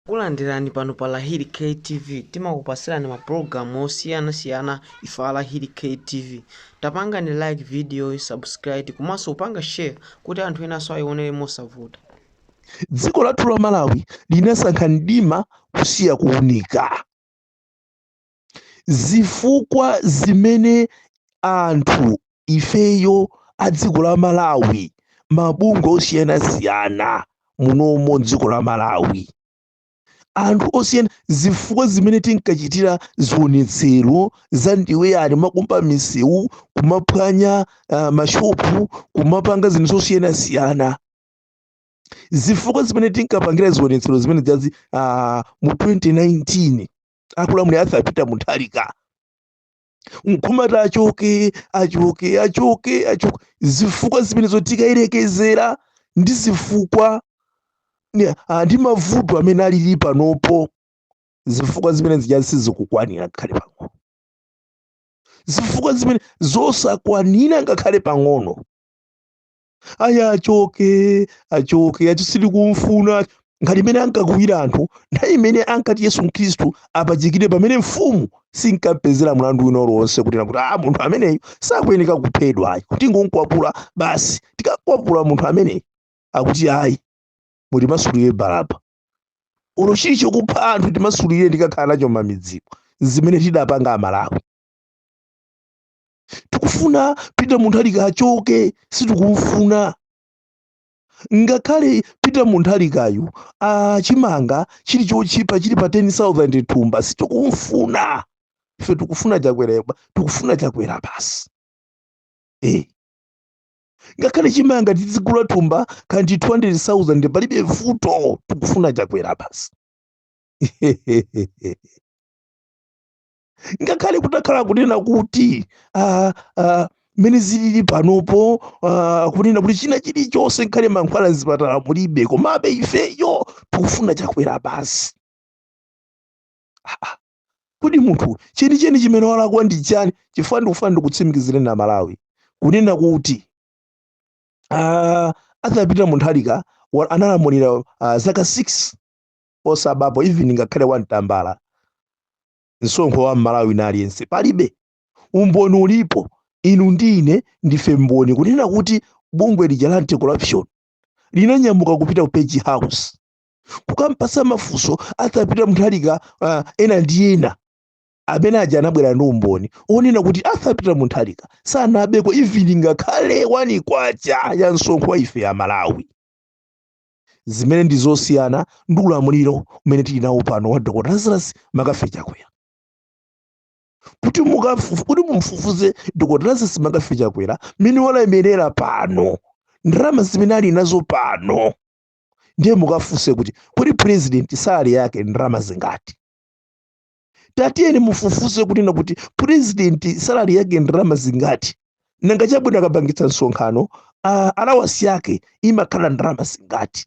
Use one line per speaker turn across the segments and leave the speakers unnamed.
Takulandirani pano pa Lahiri K TV timakupasirani ma program osiyana siyana ife a Lahiri K TV tapangani like video yi subscribe komanso kupanga share kuti anthu enanso ayionere mosavuta. Dziko lathu la Malawi linasankha mdima kusiya kuunika. zifukwa zimene anthu ifeyo a dziko la malawi mabungwe osiyanasiyana munomo dziko la malawi anthu osiyana zifukwa zimene tinkachitira zionetsero za ndiwe yani kumakumba misewu kumaphwanya uh, mashopu kumapanga zinthu zosiyanasiyana zifukwa zimene tinkapangira zionetsero zimene zija uh, mu 2019 akulamulira Arthur Peter Mutharika nkhumati achoke achoke achoke achoke zifukwa zimene zo tikayerekezera ndi zifukwa ni- ah, ndi mavuto amene alili panopo zifukwa zimene zija sizikukwanira ngakhale pang'ono zifukwa zimene zosakwanira ngakhale pang'ono ayi achoke achoke ati sitikumfuna ngati mmene ankakuwira anthu nthawi imene ankati yesu mkhristu apachikidwe pamene mfumu sinkampezera mlandu wina uliwonse kuti inakuti a munthu ameneyu sakuyeneka kuphedwa ayi tingomkwapula basi tikamkwapula munthu ameneyu akuti ayi mutimasulire baraba olo chili chokupha anthu timasulireni tikakhala nacho mmidzimu ndi zimene tidapanga amalawi tikufuna Peter Mutharika achoke sitikumfuna ngakhale peter Mutharikayu ah chimanga chili chotchipa chili pa 10000 thumba sitikumfuna ife tikufuna chakwera tikufuna chakwera basi eh ngakhale chimanga tizigula thumba kaya ndi 200000 palibe vuto tikufuna chakwera basi ngakhale kutakhala kunena kuti ah, ah, mmene zilili panopo ah, kunena kuti china chilichonse nkhale mankhwala mzipatala mulibe komabe ifeyo tikufuna chakwera basi Ah, ah. kodi munthu chenicheni chimene walakwa ndi chani chifukwa ndikufuna ndikutsimikizireni a malawi kunena kuti ah, Arthur Peter Mutharika wa- analamulira ah, zaka 6 Sanabepo even ngakhale wani tambala msonkho wa mmalawi wina aliyense palibe umboni ulipo inu ndi ine ndife mboni kunena kuti bungwe lija la anti-corruption linanyamuka kupita ku page house kukampatsa mafunso Arthur Peter Mutharika uh, ena ndi ena amene aja anabwera ndi umboni onena kuti Arthur Peter Mutharika sanabeko even ngakhale wani kwacha ya msonkho wa ife a malawi zimene ndi zosiyana ndi ulamuliro umene tili nawo pano wa dr lazarus mccarthy chakwera kuti mukafufu kuti mumfufuze dr lazarus mccarthy chakwera mmene walemerera pano ndalama zimene ali nazo pano ndiye mukafunse kuti kodi president salary yake ndalama zingati tatiyeni mufufuze kunena kuti purezidenti salari yake ndalama zingati nanga chabwino akapangitsa msonkhano ah, alawasi yake imakhala ndalama zingati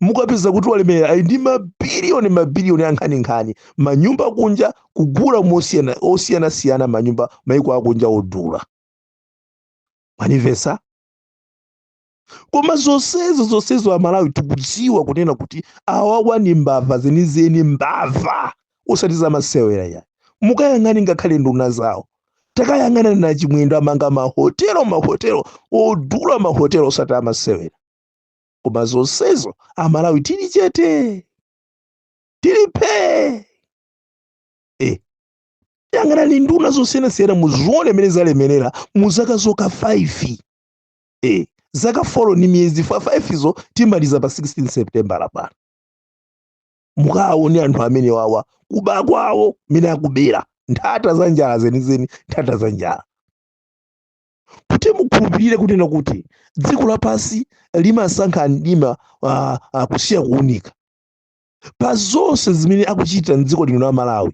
mukapeza kuti walemera ali ndi mabiliyoni mabiliyoni ankhaninkhani manyumba kunja kugula mosiyana- osiyanasiyana manyumba maiko akunja odula mwandimvetsa koma zonsezo zonsezo amalawi tikudziwa kunena kuti awawa ndi mbava zenizeni mbava osati zamasewera ayi mukayang'ane ngakhale nduna zawo takayang'ana na chimwendo amanga mahotelo mahotelo odula mahotelo osati amasewera koma zonsezo amalawi tili chete tili phee eh. yang'anani nduna zosiyanasiyana muzione mmene zalemerera mu zaka zokha 5 eh zaka 4 ni miyezi 5 izi timalize pa 16 september apa mukaone anthu amene wawa kuba kwawo mmene akubera nthata za njala zenizeni nthata za njala kuti mukhulupirire kunena kuti dziko lapansi limasankha mdima uh, uh, kusiya kuunika pa zonse zimene akuchita mdziko lino la malawi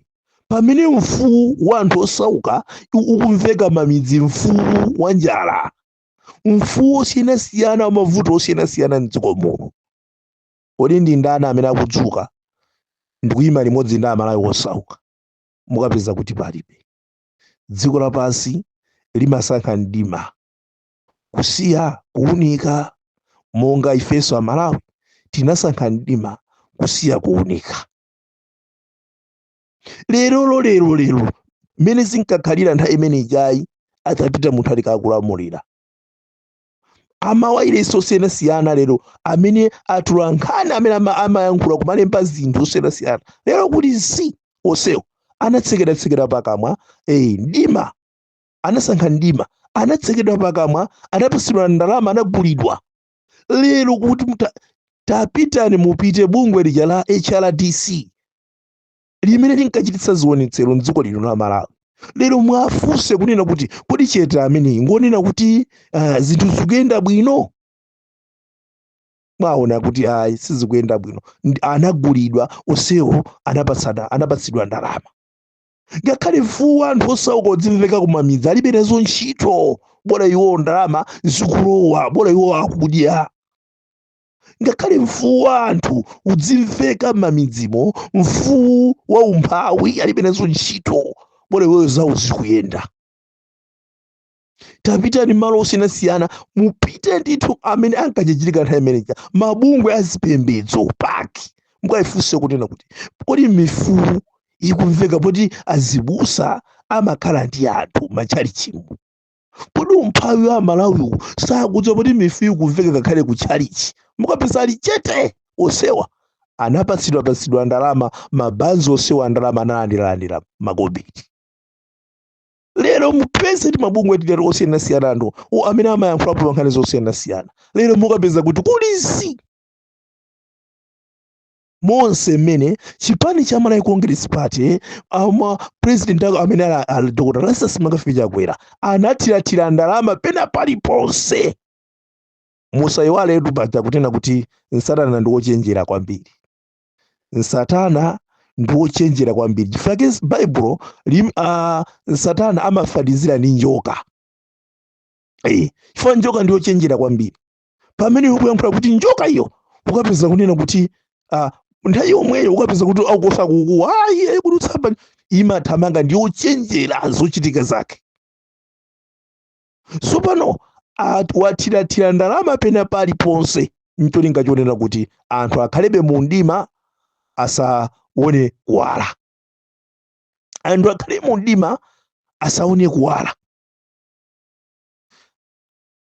pamene mfuwu wa anthu osauka u- ukumveka m'mamidzi mfuwu wa njala mfuwu wosiyanasiyana wa mavuto osiyanasiyana mdziko muno kodi ndi ndani amene akudzuka ndikuyima limodzi ndi amalawi osauka mukapeza kuti palibe dziko lapansi limasankha mdima kusiya kuunika monga ifenso amalawi tinasankha mdima kusiya kuunika lerolo lero lero mmene zinkakhalira nthawi imene ijayi a peter mutharika akulamulira amawailesi osiyanasiyana lero amene amaulutsa nkhani amene ama- amayankhula kumalemba zinthu zosiyanasiyana lero kuti si onsewo anatsekeratsekera pakamwa eyi mdima anasankha mdima anatsekedwa pakamwa anapatsidwa ndalama anagulidwa lero kuti muta- tapitani mupite bungwe lija la hrdc limene linkachititsa zionetsero mdziko lino la malawi lero muwafunse kunena kuti kodi chete ameneyi ngonena kuti ah, zinthu zikuyenda bwino muona kuti ayi sizikuyenda bwino Ndi- anagulidwa onsewo anapasana anapatsidwa ndalama ngakhale mfuwu wa anthu osauka udzimveka kumamidzi alibe nazo ntchito bola iwowo ndalama zikulowa bola iwowo akudya ngakhale mfuwu wa anthu udzimveka m'mamidzimo mfuwu wa umphawi alibe nazo ntchito bola iwowo zawo zikuyenda tapitani malo osiyanasiyana mupite ndithu amene ankajijirika nthawi imeneja mabungwe a zipembedzo pake mukayifunse kunena kuti kodi mifuwu ikumveka poti azibusa amakhala ndi anthu m'matchalichimo kodi umphawi wa amalawiwu sakudziwa poti mifuwu ikumveka ngakhale ku tchalichi mukapeza ali chete onsewa anapatsidwa patsidwa ndalama mabanzi onsewa ndalama analandiralandira makobidi lero mupeze kuti mabungwe tilero osiyanasiyana anthu o amene amayankhulapo pa nkhani zosiyanasiyana lero mukapeza kuti kuli zii monse mmene chipani cha malawi congress party ndi president wake amene ali ali dr lazarus mccarthy chakwera anathirathira ndalama pena paliponse musayiwaletu paja kunena kuti satana ndi wochenjera kwambiri satana ndi wochenjera kwambiri chifukwa chake baibulo lim- ah, satana amafanizira ndi njoka Eh, chifukwa njoka ndi yochenjera kwambiri pamene ukuyankhula kuti njoka iyo ukapeza kunena kuti ah, nthawi yomweyo ukapeza kuti akukosa kukuwa ayi ayi kuti yathawa imathamanga ndi yochenjera zochitika zake tsopano at- wathirathira ndalama pena paliponse ncholinga chonena kuti anthu akhalebe mu mdima asaone kuwala anthu akhale mu mdima asaone kuwala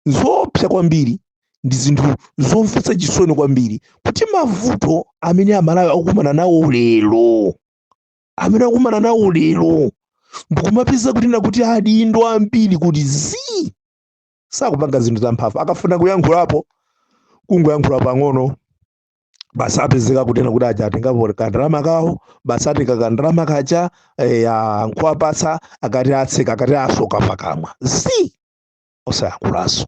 zoopsa kwambiri ndi zinthu zomvetsa chisoni kwambiri kuti mavuto amene amalawi akukumana nawo lero amene akumana nawo lero ndikumapeza kunena kuti adindo ambiri kuti zii sakupanga zinthu zamphamvu akafuna kuyankhulapo kungoyankhula pang'ono basi apezeka kunena kuti aja atengapo kandalama kawo basi atenga kandalama kaja eh, ah, nkuwapatsa akati atseka akati asoka pakamwa zii osayankhulanso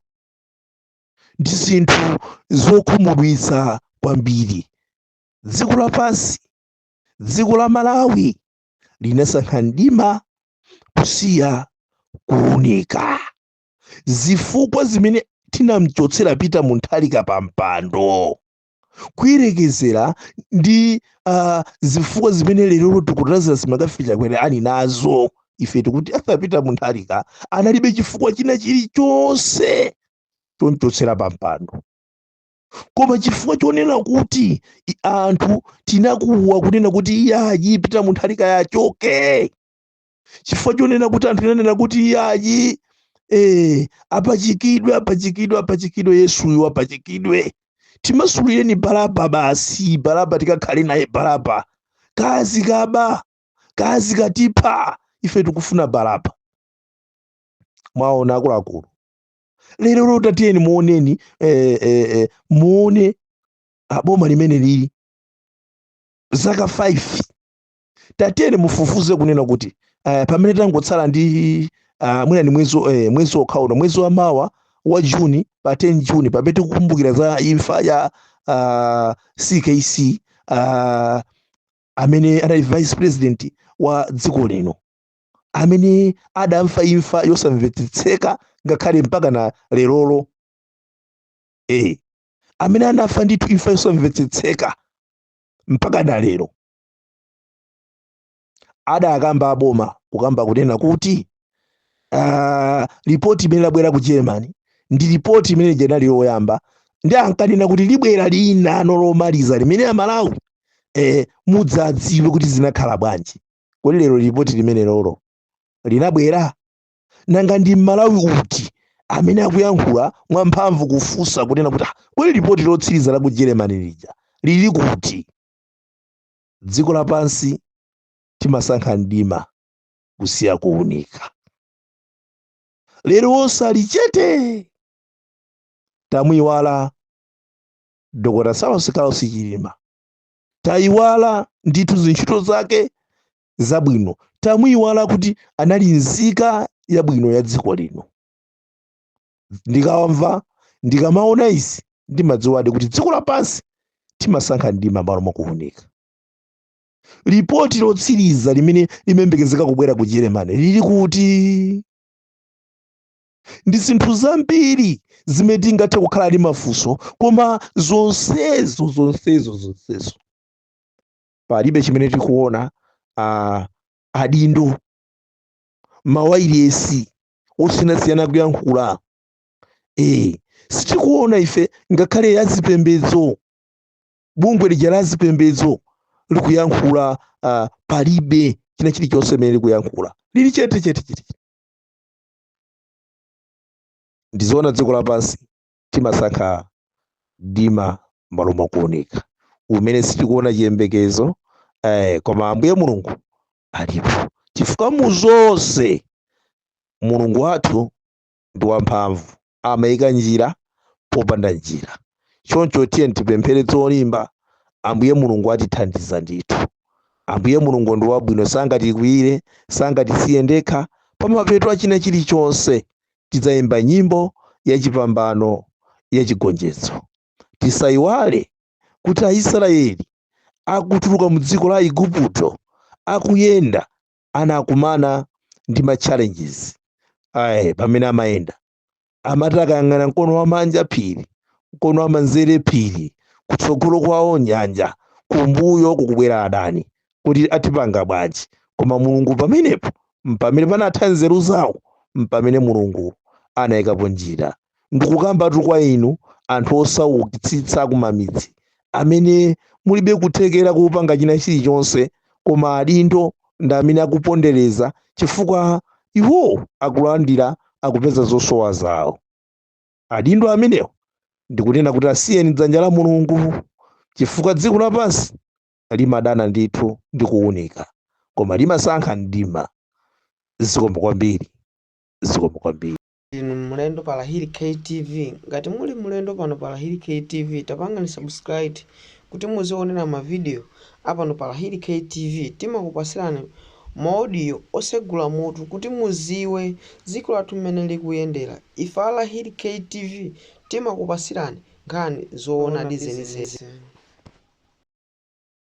ndi zinthu zokhumudwitsa kwambiri dziko lapansi dziko la malawi linasankha mdima kusiya kuunika zifukwa zimene tinamchotsera peter mutharika pa mpando kuyerekezera ndi uh, zifukwa zimene lero dokotala lazarus mccarthy chakwera ali nazo ife tikuti arthur peter mutharika analibe chifukwa china chilichonse chomchotsera pa mpando koma chifukwa chonena kuti i- anthu tinakuwa kunena kuti iye ayi pita munthu ali kuti achoke chifukwa chonena kuti anthu tinanena kuti iye ayi eh, apachikidwe apachikidwe apachikidwe yesuyo apachikidwe timasulireni baraba basi baraba tikakhale naye baraba kazikaba kazikatipha ife tikufuna baraba mwaona akuluakulu lerolo tatiyeni muoneni eh, eh, eh, muone aboma limene lili zaka 5 tatiyeni mufufuze kunena kuti eh, pamene tangotsala ndi ah, mwina ndi mwezi eh, mwezi wokhawuno mwezi wa mawa wa juni pa 10 juni pamene tikukumbukira za imfa ya ah, skc ah, amene anali vice president wa dziko lino amene adamfa imfa yosamvetsetseka ngakhale mpaka na lerolo e amene anafa ndithu imfa yosamvetsetseka mpaka na lero adakamba aboma kukamba kunena kuti uh, ripoti imene labwera ku germany ndi ripoti imene lija linali loyamba ndi ankanena kuti libwera lina lomaliza limene amalawi eh, mudzadziwe kuti zinakhala bwanji kodi lero lipoti limenelolo linabwera nanga ndi mmalawi uti amene akuyankhula mwamphamvu kufunsa kunena kuti ah, kodi lipoti lotsiriza la ku germany lija lili kuti dziko lapansi timasankha mdima kusiya kuunika lero onse ali chete tamuiwala dokotala saulos klaus chilima tayiwala ndithu zintchito zake zabwino tamuyiwala kuti anali nzika yabwino ya dziko lino ndikamva ndikamaona izi ndimadziwadi kuti dziko lapansi timasankha mdima malo mwakuunika lipoti lotsiriza limene likuyembekezeka kubwera ku germany lili kuti ndi zinthu zambiri zimene tingathe kukhala ndi mafunso koma zonsezo zonsezo zonsezo palibe chimene tikuona ah, adindo mawayilesi osiyanasiyana kuyankhula eh sitikuona ife ngakhale azipembedzo bungwe lija la zipembedzo likuyankhula ah, palibe china chilichonse chimene likuyankhula lili chete chete chete ndizoona dziko lapansi timasankha mdima m'malo mwa kuunika mmene sitikuona chiyembekezo eh, koma ambuye mulungu alipo chifukwa mu zonse mulungu wathu ndi wamphamvu amaika njira popanda njira choncho tiyeni tipemphere zolimba ambuye mulungu atithandiza ndithu ambuye mulungu ndi wabwino sangatikwiyire sangatisiye tokha pamapeto achina chilichonse tidzayimba nyimbo yachipambano yachigonjetso tisayiwale kuti aisraeli akutuluka mu dziko la igupto akuyenda anakumana ndi ma challenges ayi pamene amayenda amati akayang'ana mkono wamanja phiri mkono wamanzere phiri kutsogolo kwawo nyanja kumbuyo kukubwera adani kuti atipange bwanji koma mulungu pamenepo mpamene panatha nzeru zawo mpamene mulungu anayikapo njira ndikukambatu kwa inu anthu osaukitsitsa akumamidzi amene mulibe kuthekera kupanga china chilichonse koma adindo ndi amene akupondereza chifukwa iwowo akulandira akupeza zosowa zawo adindo amenewo ndikunena kuti asiyeni dzanja la mulungu chifukwa dziko lapansi limadana ndithu ndi kuwunika koma limasankha mdima zikomo kwambiri zikomo kwambiri inu mlendo pa Lahiri KTV. Ngati muli mlendo pano pa Lahiri KTV, tapangani subscribe kuti muzionera ma video a pano pa Lahiri KTV. Timakupasirani ma audio osegula mutu kuti muziwe ziko lathu mmene likuyendera. Ife a Lahiri KTV timakupasirani nkhani zoonadi zenizeni.